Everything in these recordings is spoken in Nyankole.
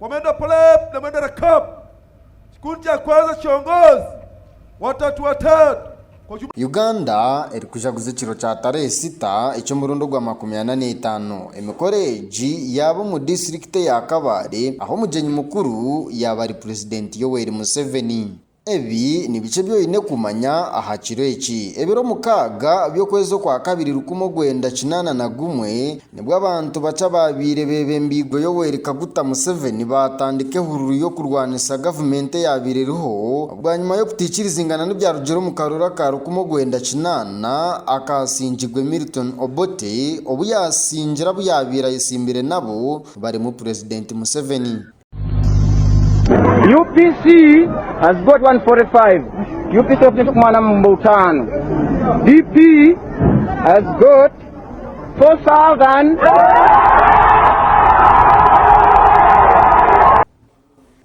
Mwenda Pulep na Mwenda Rakab, Kikundi kya Kwanza Kiongozi, Watatu Watatu, Kojuma. Uganda erikujaguza ekiro kya Tarehe sita eky'omurundi ogwa makumi ana n'etaano. Emikoro egi yaaba omu disiturikiti eya Kabale ahu omugyenyi mukuru yaaba ari Purezidenti Yoweri Museveni. Ebi ni biki ebi oine kumanya aha kiro eki? Ebiro mukaaga by'okwezi okwa kabiri rukumi orwenda kinaana na gumwe nibwo abantu bakye abaabaire beebembeirwe Yoweri Kaguta Museveni baatandika ehururu y'okurwanisa gavumenti eyaabaire eriho bwanyima y'okutaikirizingana n'ebyarugire omu karuru aka rukumi orwenda kinaana akaasingirwe Milton Obote obu yaasingira abu yaabaire ayetsimbire nabo barimu purezidenti Museveni. UPC has got 145. UPC ofuna eky'okumwana mu butaano. DP has got 4,000.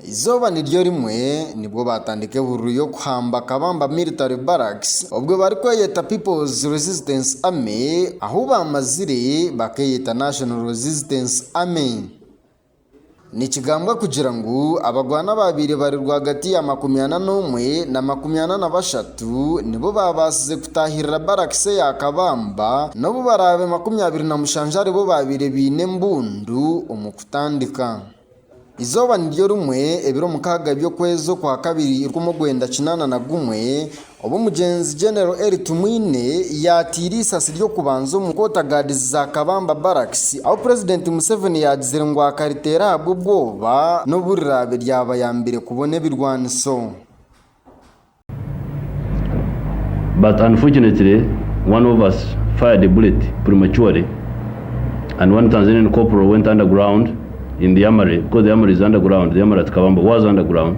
Eizooba niryo rimwe nibwo baatandika ehururu y'okuhamba Kabamba Military Barracks obwo barikweyeta People's Resistance Army ahu baamazire bakeeyeta National Resistance Army. Nikigambwa kugira ngu abagwana abaabaire bari rwagati ya makumi ana n'omwe na makumi ana na bashatu nibo baabaasize kutaahirira barakisi eya Kabamba n'obu baraabe makumi abiri na mushanju aribo baabaire baine embundu omu kutandika. Eizooba niryo rimwe ebiro mukaaga by'okwezi okwa kabiri rw'omwenda kinaana na gumwe, Obu omugyenzi Genero Eli Tumwine yaataire eisasi ry'okubanza omu Quarter Guards za Kabamba Barracks, ahu Purezidenti Museveni yaagizire ngu akariteera ahabw'obwoba n'obu riraabe ryabayambire kubona ebirwaniso. But unfortunately one of us fired a bullet prematurely and one Tanzanian corporal went underground in the armoury because the armoury is underground, the armoury at Kabamba was underground.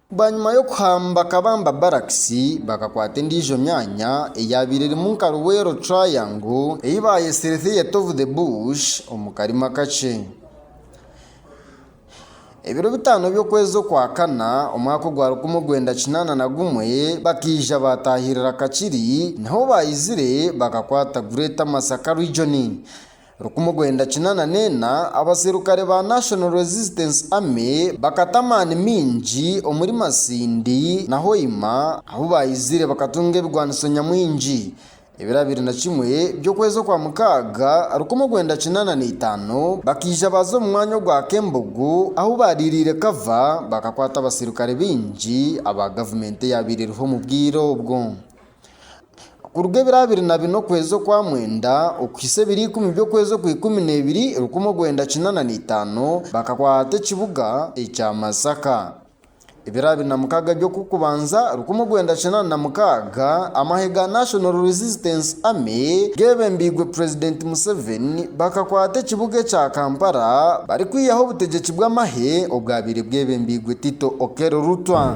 Bwanyima y'okuhamba Kabamba Barracks, bakakwata endiijo myaanya eyaabaire erimu nka Luweero Triangle ei baayetsire Theatre of the Bush omu karimu akakye. Ebiro bitaano by'okwezi okwakana omwaka ogwa rukumi orwenda kinaana na gumwe bakaija baataahirira Kakiri niho baizire bakakwata Greater Masaka Region. Rukumi rwenda kinana n'ena, abaserukare ba National Resistance Army bakata amaani maingi omuri Masindi na Hoima ahu baizire bakatunga ebigwaniso nyamwingi. Ebiro abiri na kimwe by'okwezi okwa mukaaga, rukumi rwenda kinana n'eitaano, bakaija baaza omu mwanya ogwa Kembogo ahu baariiriire kava bakakwata abaserukare baingi aba gavumenti eyaabaire eriho omu bwire obwo. Kuruga ebiro abiri na bina okwezi okwa mwenda okuhitsya ebiro ikumi by'okwezi okwa ikumi na ibiri rukumi orwenda kinaana na itaano, bakakwata ekibuga ekya Masaka. Ebiro abiri na mukaaga by'okukubanza rukumi orwenda kinaana na mukaaga, amahe ga National Resistance Army geebembeirwe Purezidenti Museveni bakakwata ekibuga ekya Kampala barikwihaho obutegyeki bw'amahe obwabaire bwebembeirwe Tito Okello Lutwa.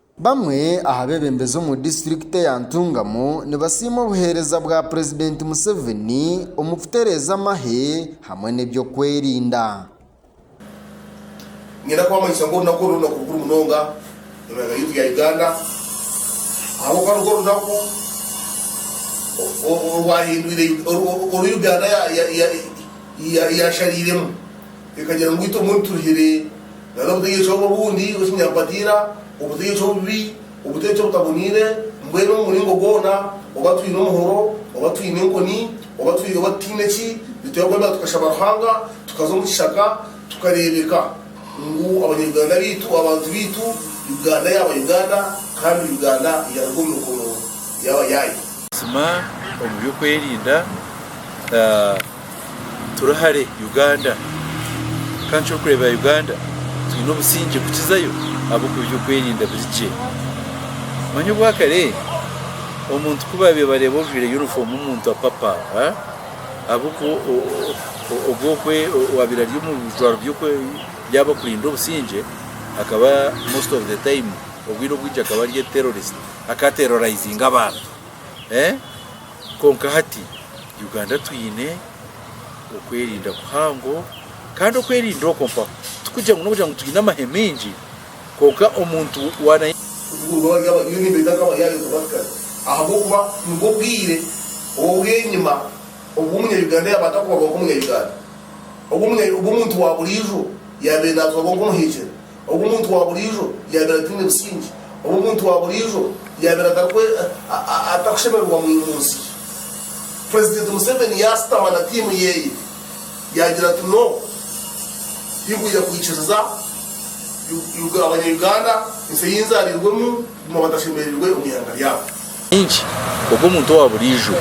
Bamwe aha bebembezi omu disiturikiti eya Ntungamo nibasiima obuheereza bwa purezidenti Museveni omu kutereeza amahe hamwe n'ebyokwerinda. Niinyenda kubamanyisa ngu orunaku oru n'orunaku rukuru munonga omu ihanga ryaitu rya Uganda ahabw'okuba nirwo runaku orwahindwire oru Uganda yaashariiremu. Ekagira ngu itwe mbwenu turuhire na n'obutegyeki obu obundi, obw'ekinyampatiira, obutegyeki obubi, obutegyeki obutaboniire, mbwenu omu muringo gwona, oba twine omuhoro, oba twine enkoni, oba twi, oba tutaine ki, nitwebwa kwebembera tukashaba Ruhanga, tukaza omu kishaka, tukareebeka ngu Abanya-Uganda baitu, abantu baitu, Uganda yaaba Uganda, kandi Uganda yaruga omu mikono y'abayaaye. Buzima omu by'okwerinda turi hare Uganda kandi ekyokureebera Uganda twine obusingye kukizayo ahabw'okuba eby'okwerinda biri gye. Omanya obwakare omuntu ku baabaire nibareeba ojwaire yunifoomu omuntu apapa ahabw'okuba ogwo owaabaire ari omu bijwaro by'abarikurinda obusingye akaba most of the time obwire obwingi akaba ari terrorist. akaterorayizinga abantu kwonka hati Uganda twine okwerinda kuhango kandi okwerinda okwo mpaho tikugira ngu n'okugira ngu twine amahe maingi kwonka omuntu waaba nyowe nimbeeta nka abayaaye kubatukana ahabw'okuba nibwo obwire obw'enyima obu omunya-Uganda yaaba atakubarwa nk'omunya-Uganda, obu omuntu waaburiijo yaabaire naatwarwa nk'omuhegyere. Obu omuntu wa buriijo yaabaire ataine busingye, obu omuntu wa buriijo yaabaire atakushemererwa mu nsi, Purezidenti Museveni yaashutama na tiimu ye yaagira ati, No, tinkwija kwikiriza Abanya-Uganda, ensi ei nzaariirwemu, kuguma batashemereirwe omu ihanga ryabo. Nkinki ogu omuntu owa buriijo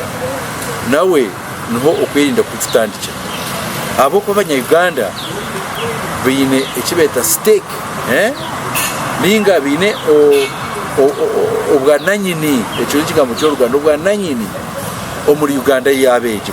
nawe niho okwerinda kukututandikira ahabw'okuba abanya Uganda baine eki beeta stake ninga baine obwa nanyini, ekyo n'ekigambo ky'oruganda, obwa nanyini omuri Uganda yaabo egi.